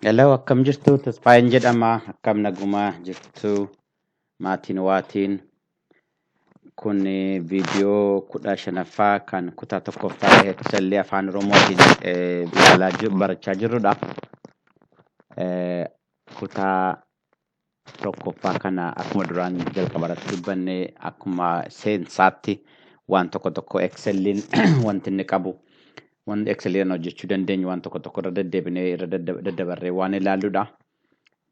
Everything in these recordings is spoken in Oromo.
Hello, akkam jirtu? Tasfaayeen jedhama. Akkam naguma jirtu? Maatiin waatiin. Kun eh, viidiyoo kudha shanaffaa kan kutaa tokkoffaa eegsallee afaan Oromootiin eh, ilaalaa jiru- barachaa jirrudha. Eh, Kutaa tokkoffaa kana akkuma duraan jalqaba irratti dubbanne akkuma seensaatti waan tokko tokko Excel'n wanti inni qabu wanti Excel'n hojjechuu dandeenyu waan tokko tokko irra deddeebinee irra dadda- daddabarree waan ilaalludha.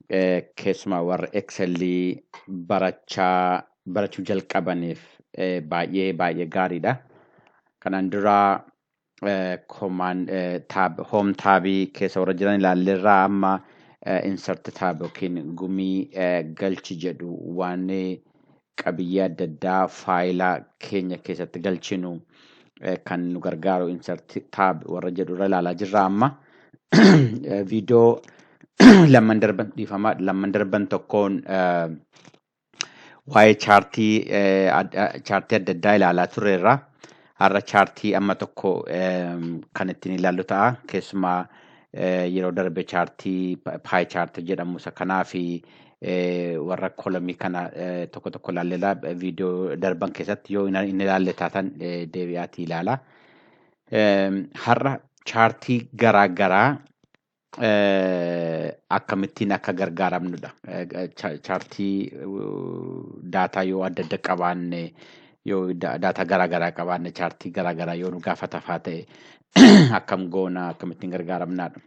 Eh, Keessumaa warra Excel barachaa barachuu jalqabaniif eh, baay'ee baay'ee gaariidha. Kanaan dura komaan taab hoom taabii keessa warra jiran ilaalleerraa amma insert taab yookiin gumii galchi jedhu waan qabiyyee adda addaa faayila keenya keessatti galchinu kan nu gargaaru insert taab warra jedhu irra ilaalaa jirra amma viidiyoo lamman darban dhiifama lamman darban tokkoon waa'ee chaartii eh, ad- ah, chaartii adda addaa ilaalaa turreerra. Har'a chaartii amma tokko ehm, kan ittiin ilaallu ta'a. Keessumaa eh, yeroo darbe chaartii paay chaartii jedhamu isa kanaa fi eh, warra kolomii kana eh, tokko tokko ilaalleera. Viidiyoo darban keessatti yoo hin hin ilaalle taatan eh, deebi'aatii ilaala. Ehm, Har'a chaartii garaa garaa akkamittiin akka gargaaramnudha. Chaartii daataa yoo adda adda qabaanne yoo daataa garaa garaa qabaanne chaartii garaa garaa yoo nu gaafatafaa ta'e akkam goona akkamittiin gargaaramnaadha.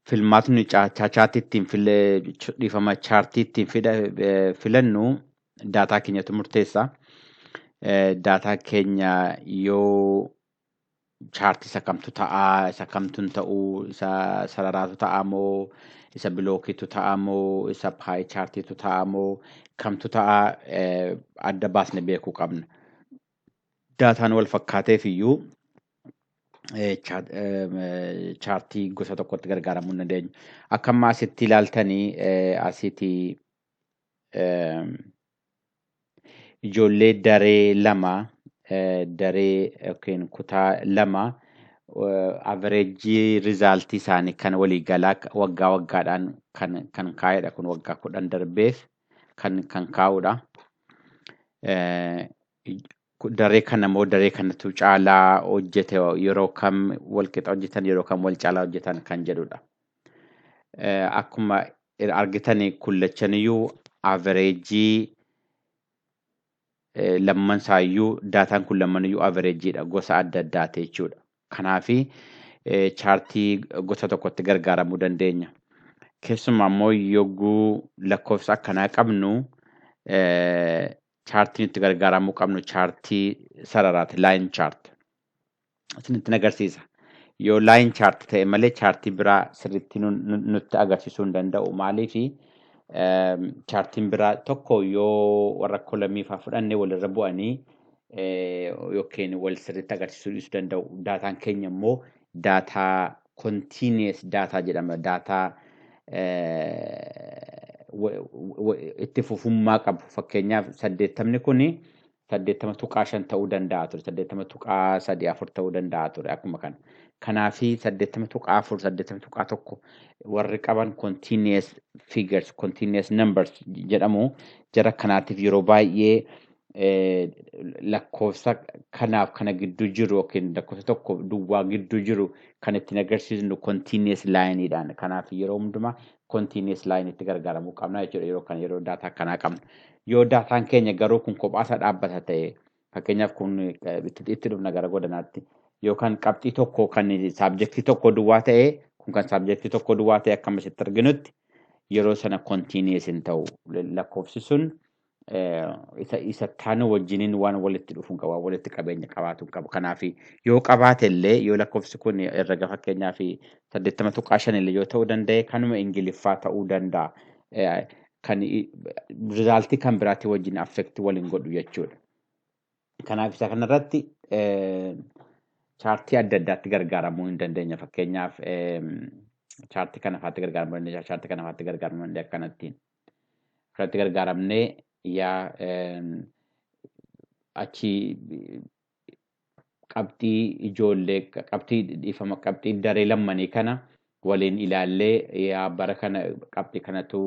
Filmaatni chaartii ittiin dhiifama chaartii ittiin filannu daataa keenyatu murteessa. Daataa keenya yoo chaartii isa kamtu ta'a, isa kamtu hin ta'u, isa sararaatu ta'a moo, isa bilookiitu ta'a moo, isa paayi chaartiitu ta'a moo, kamtu ta'a eh, adda baasne beekuu qabna. Daataan wal fakkaateef iyyuu eh, cha- eh, chaartii gosa tokkotti gargaaramuu hin dandeenyu. Akka amma asitti ilaaltanii eh, asiitii eh, ijoollee daree lama daree yookiin kutaa lama averejii rizaaltii isaanii kan walii galaa waggaa waggaadhaan kan kan kaa'edha kun waggaa kudhan darbeef kan kan kaa'udha. daree kana moo daree kanatu caalaa hojjete yeroo kam wal qixa hojjetan yeroo kam wal caalaa hojjetan kan jedhudha. Akkuma argitan kullachaniyyuu avereejii lamman isaayyuu daataan kun lammaniyyuu avereejiidha gosa adda addaati jechuudha. Kanaaf chaartii gosa tokkotti gargaaramuu dandeenya. Keessumaa immoo yogguu lakkoofsa akkanaa qabnu Chaartiin itti gargaaramuu qabnu chaartii sararaati, line chart. Isin ittiin agarsiisa. Yoo line chart ta'e malee chaartii biraa sirriitti nu- nu- nutti agarsiisuu hin danda'u. Maaliif chaartiin biraa tokko yoo warra kolamii fa'aa fudhanne walirra bu'anii eh, yookiin wal sirriitti agarsiisuu dhiisuu danda'u. Daataan keenya immoo daataa continuous daataa jedhama. Daataa itti fufummaa qabu. Fakkeenyaaf saddeettamni kun saddeettama tuqaa shan ta'uu danda'a ture. Saddeettama tuqaa sadii afur ta'uu danda'a ture akkuma kana. Kanaaf saddeettama tuqaa afur saddeettama tuqaa tokko warri qaban continuous figures continuous numbers jedhamu. Jara kanaatiif yeroo baay'ee lakkoofsa kanaaf kana gidduu jiru yookiin lakkoofsa tokko duwwaa gidduu jiru kan ittiin agarsiisnu continuous line dhaan. Kanaaf yeroo hundumaa continuous line itti gargaaramuu qabna jechuudha yeroo kana yeroo daataa akkanaa qabnu. Yoo daataan keenya garuu kun kophaa isaa dhaabbata ta'e fakkeenyaaf kun itti dhufna gara godanaatti yookaan qabxii tokko kan saabjektii tokko duwwaa ta'e kun kan saabjektii tokko duwwaa ta'e akkam asitti arginutti yeroo sana continuous hin ta'u lakkoofsi sun isa isa taanu wajjiniin waan walitti dhufuun qaba, waan walitti qabeenya qabaatu hin qabu. Kanaaf yoo qabaate illee yoo lakkoofsi kun herrega fakkeenyaaf saddeettama tuqaa shan illee yoo ta'uu danda'e kanuma Ingiliffaa ta'uu danda'a. Eh, Kan rizaaltii kan biraatii wajjin affekti waliin godhu jechuudha. Kanaaf isa kanarratti eh, chaartii adda addaatti gargaaramuu hin dandeenya. Fakkeenyaaf eh, chaartii kana faatti gargaaramuu dandeenya, chaartii kana faatti gargaaramuu dandeenya akkanattiin. irratti gargaaramnee yaa achi qabxii ijoollee qabxii dhiifama qabxii daree lammanii kana waliin ilaallee yaa bara kana qabxii kanatu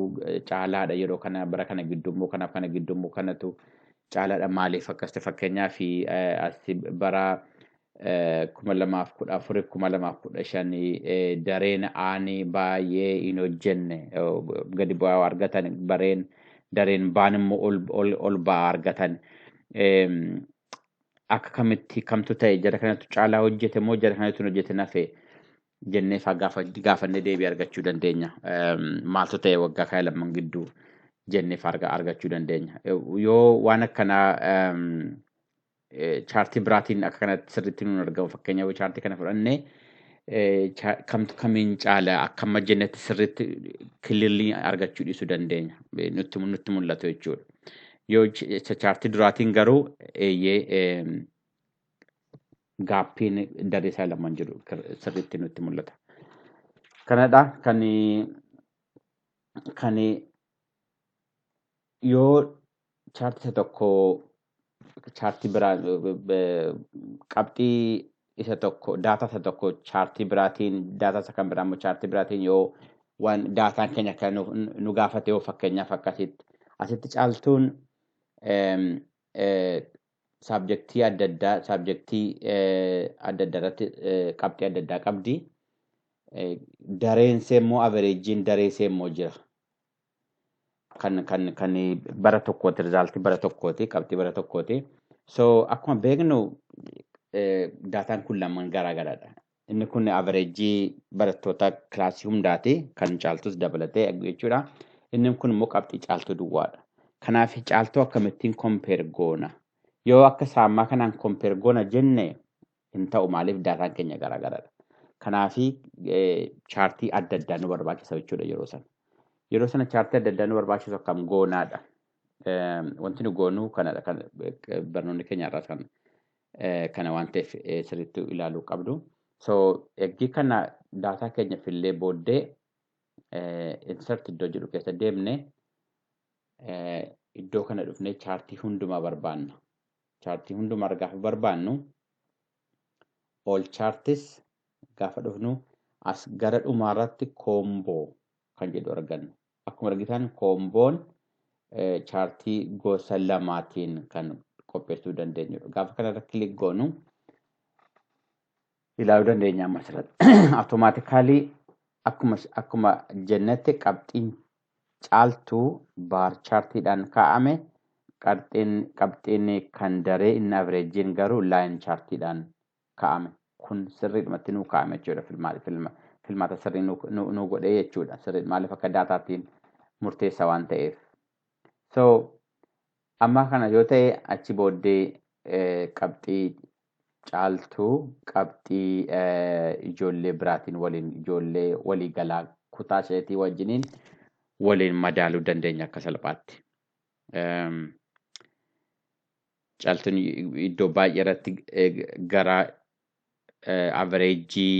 caalaadha yeroo kana bara kana giddummoo kanaaf kana giddummoo kanatu caalaadha maaliif akkas ta'e fakkeenyaaf bara 2014 2015 dareen aani baay'ee hin hojjenne gadi bu'aa argatan bareen dareen baan immoo ol ba'aa argatan akka kamitti kamtu ta'e jara kanatu caalaa hojjete moo jara kanatu hin hojjete nafe jennee faa gaafannee deebii argachuu dandeenya maaltu ta'e waggaa kana lamman gidduu jennee faa argachuu dandeenya yoo waan akkanaa Chaartii biraatiin akka kanatti sirriitti nuun argamu fakkeenyaaf chaartii kana fudhanne kamtu kamiin caala akka amma jennetti sirriitti kilirlii argachuu dhiisuu dandeenya nutti nutti mul'atu jechuudha. Yoo chaartii duraatiin garuu eeyyee gaappiin daree isaa lamaan jiru sirriitti nutti mul'ata. Kanadha kan kan Yoo chaartii isa tokko chaartii biraa qabxii isa tokko daataa isa tokko chaartii biraatiin daataa isa kan biraa immoo chaartii biraatiin yoo waan daataan keenya kan nu gaafate yoo fakkeenyaaf akkasitti asitti caaltuun saabjektii adda addaa saabjektii adda addaa irratti qabxii adda addaa qabdi. Dareen immoo averejjiin daree immoo jira. kan kan kan bara tokkooti rizaaltii bara tokkooti qabxii bara tokkooti. So akkuma beeknu daataan kun lamaan garaa garaadha. Inni kun averejii barattoota kilaasii hundaati kan caaltus dabalatee jechuudha. Inni kun immoo qabxii caaltuu duwwaadha. Kanaaf caaltuu akkamittiin kompeer goona? Yoo akka saamaa kanaan kompeer goona jenne hin ta'u maaliif daataan keenya garaagaradha. Kanaafi chaartii adda addaa nu barbaachisa jechuudha yeroo sana. Yeroo sana chaartii adda addaa nu barbaachisu akkam goonaadha. Wanti nu goonuu kanadha kan barnoonni keenya irraas kan kana waan ta'eef sirriitti ilaaluu qabdu. So eggii kana daataa keenya fillee booddee insert iddoo jedhu keessa deemne iddoo kana dhufnee chaartii hundumaa barbaanna. Chaartii hundumaarra gaafa barbaannu all charts gaafa dhufnu as gara dhumaarratti koomboo kan jedhu arganna. Akkuma argitan koomboon chaartii gosa lamaatiin kan qopheessuu dandeenyudha. Gaafa kanarra kilik goonu ilaaluu dandeenya amma asirratti. Automaatikaalii akkuma akkuma jennetti qabxiin caaltuu baar chaartiidhaan kaa'ame qabxiin qabxiin kan daree inni avreejiin garuu laayin chaartiidhaan kaa'ame. Kun sirriidhumatti nuu kaa'ame jechuudha filmaata filma filmaata sirrii nuu nuu- nuu godhee jechuudha. Sirrii maaliif akka daataatiin murteessa waan ta'eef. So Ammaa kana yoo ta'e achi booddee qabxii caaltuu qabxii ijoollee biraatiin waliin ijoollee walii galaa kutaa isheetii wajjiniin waliin madaaluu dandeenya akka salphaatti. Caaltuun iddoo baay'ee irratti gara avereejii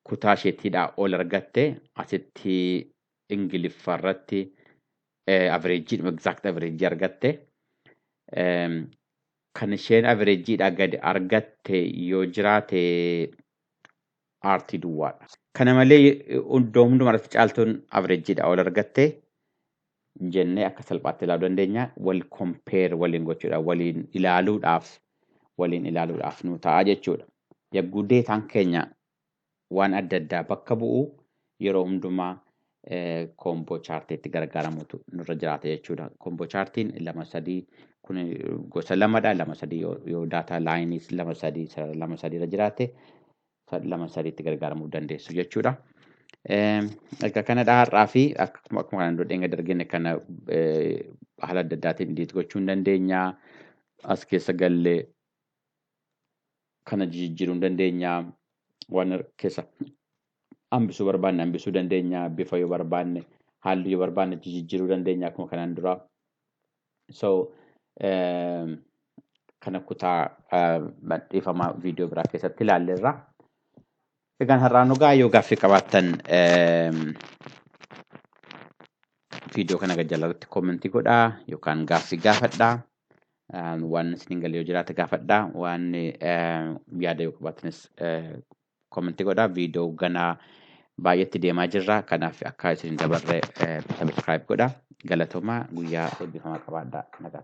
kutaa isheetiidhaa ol argatte asitti Ingiliffa irratti averejii exact averejii argatte. Ehm, Kan isheen averejiidhaa gadi argatte yoo jiraate aartii duwwaadha. Kana malee iddoo hundumaa irratti caaltuun averejidha ol argatte jennee akka salphaatti ilaaluu dandeenya. Wal compare waliin gochuudhaaf, waliin ilaaluudhaaf, waliin ilaaluudhaaf nu ta'a jechuudha. Yagguu deetaan keenya waan adda addaa bakka bu'u yeroo hundumaa koomboo chaartii itti gargaaramutu nurra jiraata jechuudha. Koomboo chaartiin lama sadii kun gosa lamadha. Lama sadii yoo daataa laayiniis lama sadii sarara lama sadii irra jiraate lama sadii itti gargaaramuu dandeessu jechuudha. Erga kanadha har'aa fi akkuma kanaan dura dheenga dargine kana haala adda addaatiin diit gochuu hin dandeenya. As keessa gallee kana jijijjiiruu ni dandeenya. Waan keessa hambisuu barbaanne hambisuu dandeenya. Bifa yoo barbaanne halluu yoo barbaanne jijijjiiruu dandeenya akkuma kanaan duraa. So kana kutaa dhiifama viidiyoo biraa keessatti ilaalleerra. Egaan har'aan dhugaa yoo gaaffii qabaattan viidiyoo kana gajjalarratti koomentii godhaa yookaan gaaffii gaafadhaa. Waan isin hin galle yoo jiraate gaafadhaa. Waan yaada yoo qabaatanis komentii godhaa. Viidiyoo ganaa baay'eetti deemaa jirra. Kanaaf akka isin hin dabarre sabiskiraayib godhaa. Galatoomaa guyyaa eebbifamaa qabaadhaa.